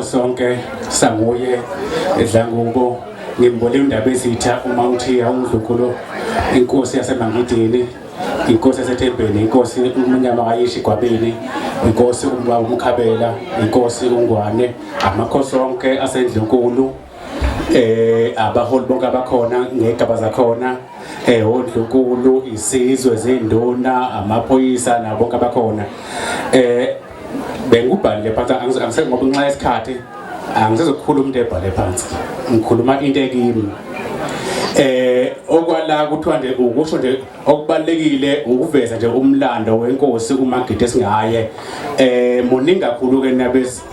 sonke sanguye edlangubo ngimbole indaba ezitha uma uthi awumdlukulo inkosi yasemangidini inkosi yasethembeni inkosi umnyama kayishi gwabini inkosi umbaba umkhabela inkosi ungwane amakhosi onke asendlunkulu eh abaholi bonke abakhona ngegaba zakhona eh ondlunkulu isizwe zinduna amaphoyisa nabo bonke abakhona eh bengikubhalile phansi angiseke ngoba nxa isikhathi angisezokukhuluma into ebhale phansi ngikhuluma into ekimi eh okwala kuthiwa nje ukusho nje okubalekile ukuveza nje umlando wenkosi uMagidi esingaye eh muningi kakhulu ke nabes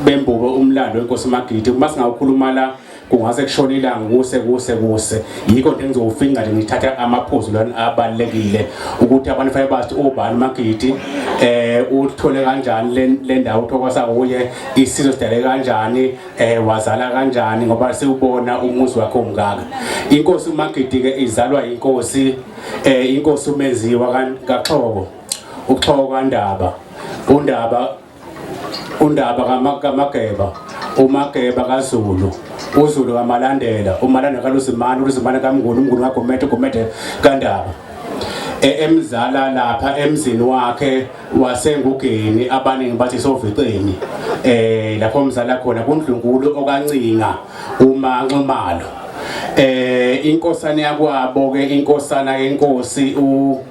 bembuke umlando wenkosi uMagidi uma singawukhuluma la kungase kushone ilanga kuse kuse kuse yikho nje ngizowufinca nje ngithatha amaphuzu lana abalekile ukuthi abantu fanele bathi ubani magidi eh uthole kanjani le ndawo thokosa kuye isizwe sidale kanjani eh wazala kanjani ngoba siwubona umuzi wakhe omngaka inkosi magidi ke izalwa inkosi eh inkosi umenziwa kaXhobo uXhobo kaNdaba uNdaba undaba kaMageba uMageba kaZulu uZulu kaMalandela uMalandela kaLuzimane uLuzimane kaMnguni uMnguni kaGumede uGumede kaNdaba e, emzala lapha emzini wakhe wasengugeni abaningi bathi soviceni eh lapho umzala khona kundlunkulu okancinga uma nxumalo eh inkosana yakwabo ke inkosana yenkosi u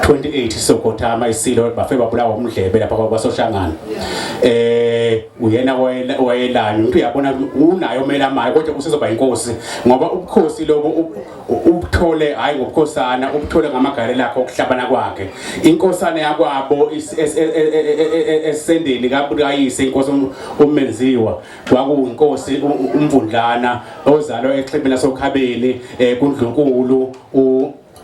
28 sokhothama isilo bafe babulawa umdlebe lapha kwasoshangana eh uyena wayelani umuntu uyabona unayo omela maye kodwa usizoba inkosi ngoba ubukhosi lobo ubuthole hayi ngobukhosana ubuthole ngamagale lakhe okuhlabana kwakhe inkosana yakwabo esendeni kabukayise inkosi umenziwa kwakuwinkosi umvundlana ozalwa exhibini lasokhabeni eh kundlunkulu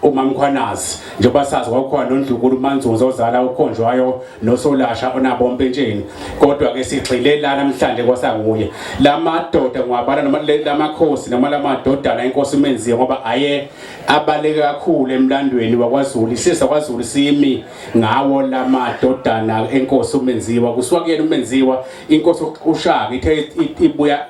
umamkhwanazi njengoba sazi kwakukhona nondlukulu umanzunza ozala ukhonjwayo nosolasha onabo mpentsheni kodwa ke sigxile la namhlanje kwasanguye la madoda ngiwabala noma la makhosi noma la madodana inkosi umenziwe ngoba aye abaleke kakhulu emlandweni wakwazulu isizwe kwazulu simi ngawo la madodana enkosi umenziwa kusuka kuyena umenziwa inkosi ushaka ithe ibuya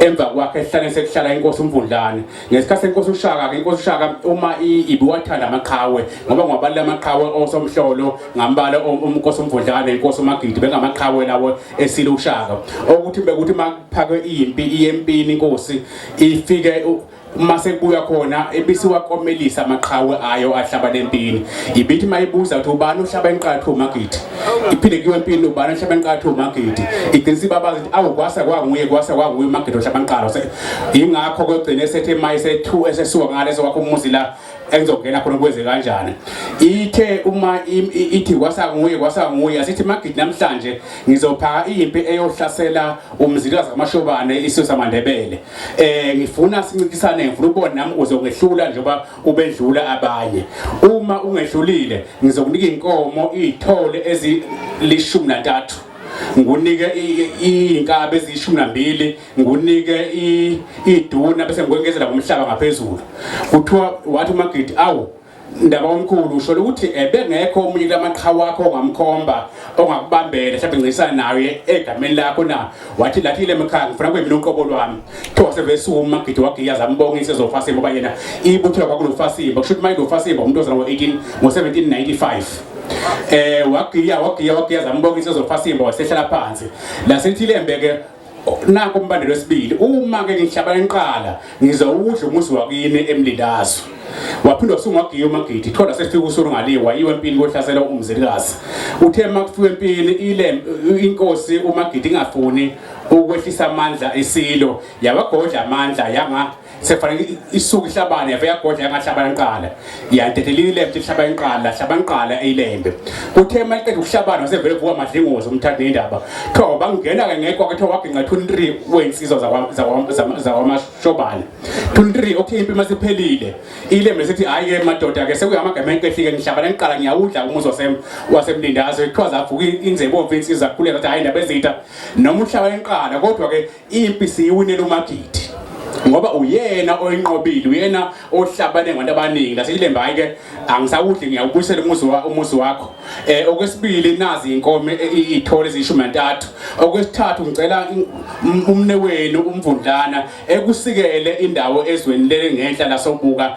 emva kwakhe esihlane sekuhlala inkosi umvundlane ngesikhathi senkosi ushaka ke inkosi ushaka uma ibiwathanda amaqhawe ngoba ngwabalile amaqhawe osomhlolo ngambala umnkosi umvundlane inkosi umagidi bengamaqhawe lawo esile ushaka okuthi bekuthi makuphakwe impi iyempini inkosi ifike uma sekuya khona ibisiwakomelisa amaqhawe ayo ahlaba lempini ibithi mayibuza ukuthi ubani uhlaba inqathu magidi iphinde kuyo empini ubani uhlaba inqathu magidi igcina ibaba ukuthi awu kwasa kwanguye kwasa kwanguye magidi ohlaba inqalo ingakho kugcine sethe mayi sethu esesuka ngaleso wakho umuzi la engizongena khona kwenze kanjani ithe uma ithi kwasa nguye kwasa nguye asithi magidi namhlanje ngizophaka impi eyohlasela umzilikazi kamashobane isizwe samandebele eh ngifuna sincintisane ngifuna ubone nami uzokwehlula njengoba ubedlula abanye uma ungehlulile ngizokunika inkomo izithole ezilishumi nantathu ngunike inkabe ezishumi nambili ngunike iduna bese ngikwengezela ngomhlaba ngaphezulu kuthiwa wathi umagidi awu Ndaba omkhulu usholo ukuthi ebengekho omunye kulamaqhawe wakho ongamkhomba ongakubambela mhlawumbe ncingisana naye egameni lakho na wathi lathi le mkhaya ngifuna kuyimina uqobo lwami kuthiwa sevesuma umagidi wagiya zambonga isezofasimba uba yena ibuthiwa kwakunofasimba kusho ukuthi uma inofasimba umuntu ozalwa ngo-18 ngo-1795 eh wagiya wagiya wagiya zambonga isezofasimba wasehlala phansi lasethi lembe-ke Nako umbandela wesibili uma ke ngihlaba inqala ngizowudla umuzi wakini emlindazo waphinde wasungwa giya umagidi thola sefika usuru ngaliwa yiwe empini kohlasela umzilikazi uthe makufika empini ile inkosi umagidi ingafuni ukwehlisa amandla isilo yawagodla amandla yanga sefanele isuke ihlabane yave yagodla yangahlabana nqala yantethelile ilembe ihlabana nqala hlabana nqala eyilembe kuthe maqeda ukuhlabana wasevele vuka madlingozi umthatha indaba tho bangena ke ngekho ke tho waginqa 23 wensizwa zakwa zakwamashobana 23 okay impi masiphelile ilembe sithi hayi ke madoda ke sekuyamagama enkehlike ngihlabana nqala ngiyawudla umuzi wasem wasemlindazo ekuthiwa zavuka inzebomvu insizwa kulela ukuthi hayi indaba ezitha noma uhlabana nqala kodwa ke Impi siyiwinele uMagidi ngoba uyena oyinqobile uyena ohlabane ngabantu abaningi naseyilembe hayi ke angisawudli ngiyawubuyisela umuzi wa umuzi wakho eh okwesibili nazi inkomo e, e, ithole izishumi nantathu okwesithathu ngicela umne wenu umvundlana ekusikele indawo ezweni lele ngenhla lasobuka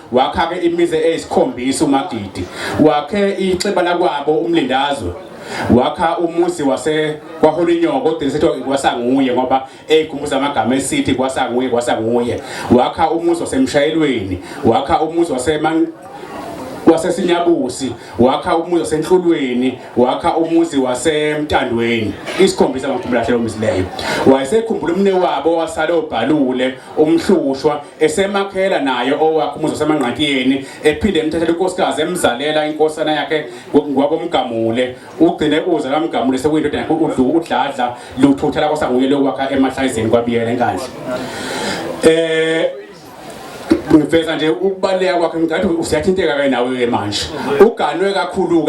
wakha-ke imizi eyisikhombisa uMagidi wakhe ixhiba lakwabo umlindazwe wakha umuzi wase kwaHolinyoko kodwa ngisethi kwasanguye ngoba eyikhumbuza amagama esithi kwasanguye kwasanguye wakha umuzi wasemshayelweni wakha umuzi wasema wasesinyabusi wakha umuzi wasenhlulweni wakha umuzi wasemtandweni isikhombisa ngomkhumbulo hlelo umisileyo wayesekhumbula umne wabo wasale obhalule umhlushwa esemakhela naye owakhe umuzi wasemangqakiyeni ephinde emthathela inkosikazi emzalela inkosana yakhe ngwakomgamule ugcine uze kamgamule sekuyindoda yakhe udladla luthutha lakho sanguye lokwakha emahlayizeni kwabiyela enkandla eh ngiveza nje ukubaleka kwakhe ngicathi usiyathinteka ke nawe ke manje uganwe kakhulu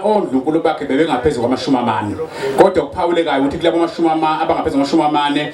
ondlunkulu bakhe bebengaphezulu kwamashumi amane kodwa kuphawulekayo ukuthi kulabo mashumi amane abangaphezulu kwamashumi amane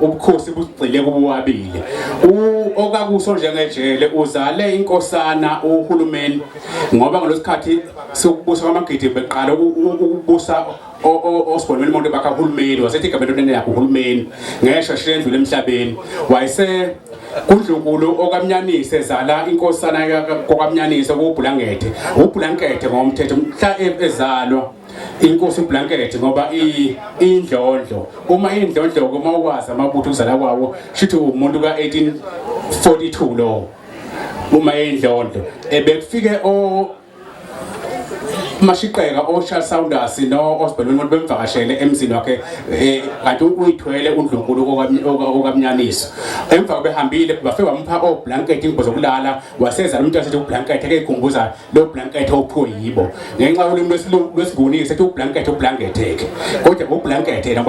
ubukhosi bugxile kubuwabili okakuso njengejele uzale inkosana uhulumeni ngoba ngalosikhathi sokubusa kwamagidi beqala ukubusa osibonweni umuntu bakha uhulumeni wasethi igama entweni yakhe uhulumeni ngeshwa shiya endlule emhlabeni wayese kudlunkulu okamnyanise zala inkosana kokamnyanise kubhulangethe ubhulangethe ngomthetho mhla e-, ezalwa inkosi ublanket ngoba indlondlo uma indlondlo uma ukwazi amabutho ukuzala kwawo shithi umuntu ka1842 lo uma indlondlo ebekufike o mashiqeka oShal Saunders no Osbel umuntu bemvakashele emzini wakhe eh, kanti uyithwele uNdlunkulu okamnyaniso emva behambile bafike bamupha oblanket ingubo zokulala waseza umuntu asethi ublanket ke ikhumbuza lo blanket ophiwe yibo ngenxa ulimi lwesilungu lwesigunike sethi ublanket ublanketheke kodwa ublanket yena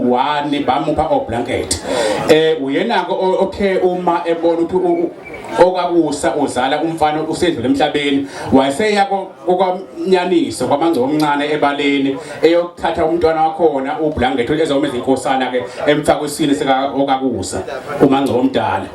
wani bamupha oblanket eh uyenako othe uma ebona ukuthi okakusa uzala umfana usedlule emhlabeni wayeseya kokwamnyaniso kwamangcobo omncane ebaleni eyokuthatha umntwana wakhona ublangetho ezawuma izinkosana ke emfaka isini sika okakusa umangcobo omdala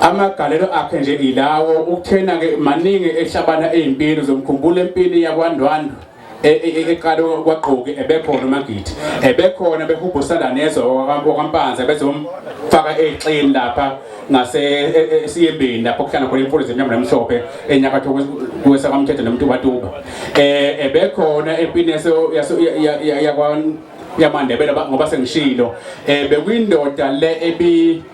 Amagalelo akhe nje ilawo ukuthena ke maningi ehlabana ezimpini zomkhumbula empini yakwaNdwandwe e, e, e, eqale kwaqoki ebekhona uMagidi ebekhona behubhusana nezwe wakampanza bezomfaka exini lapha ngase esiyembeni lapho kuhlala khona imfundo zemnyama nemhlophe enyakatho kwesakamthetho nomtubatuba eh ebekhona empini yaso yakwa yamandebela ngoba sengishilo eh bekwindoda le ebi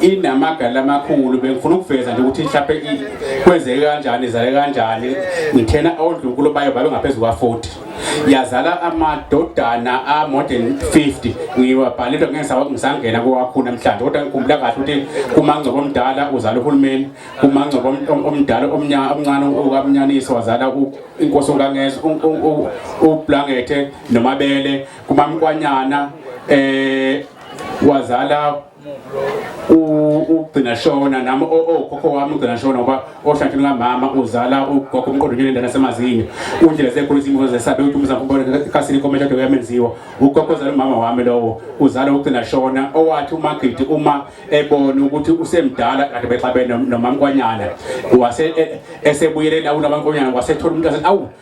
inamagala amakhulu bengifuna ukuveza nje ukuthi mhlawumbe kwenzeke kanjani izale kanjani ngithena odlunkulu bayo babe ngaphezu kwa-40 yazala amadodana a-more than 50 ngiwabhalile ngisangena kowakho namhlanje kodwa ngikhumbula kahle ukuthi kumangcobo omdala uzala uhulumeni kumangcobo omdala omncane ukamnyaniso wazala inkosi unkangeza ublangethe nomabele kumamkwanyana um wazala ugcina shona nami okhokho wami ugcina shona ngoba ohlanhlweni kamama uzala ugogo umqondo nje lendana semazinyo kundlela zekhulu izimo zesabe ukuthi umzango ubone kasini komele kade kuyamenziwa ugogo uzala umama wami lowo uzala ugcina shona owathi umagidi uma ebona ukuthi usemdala kade bexabene nomamkwanyana wase e, esebuyelela unabankonyana wasethola umuntu awu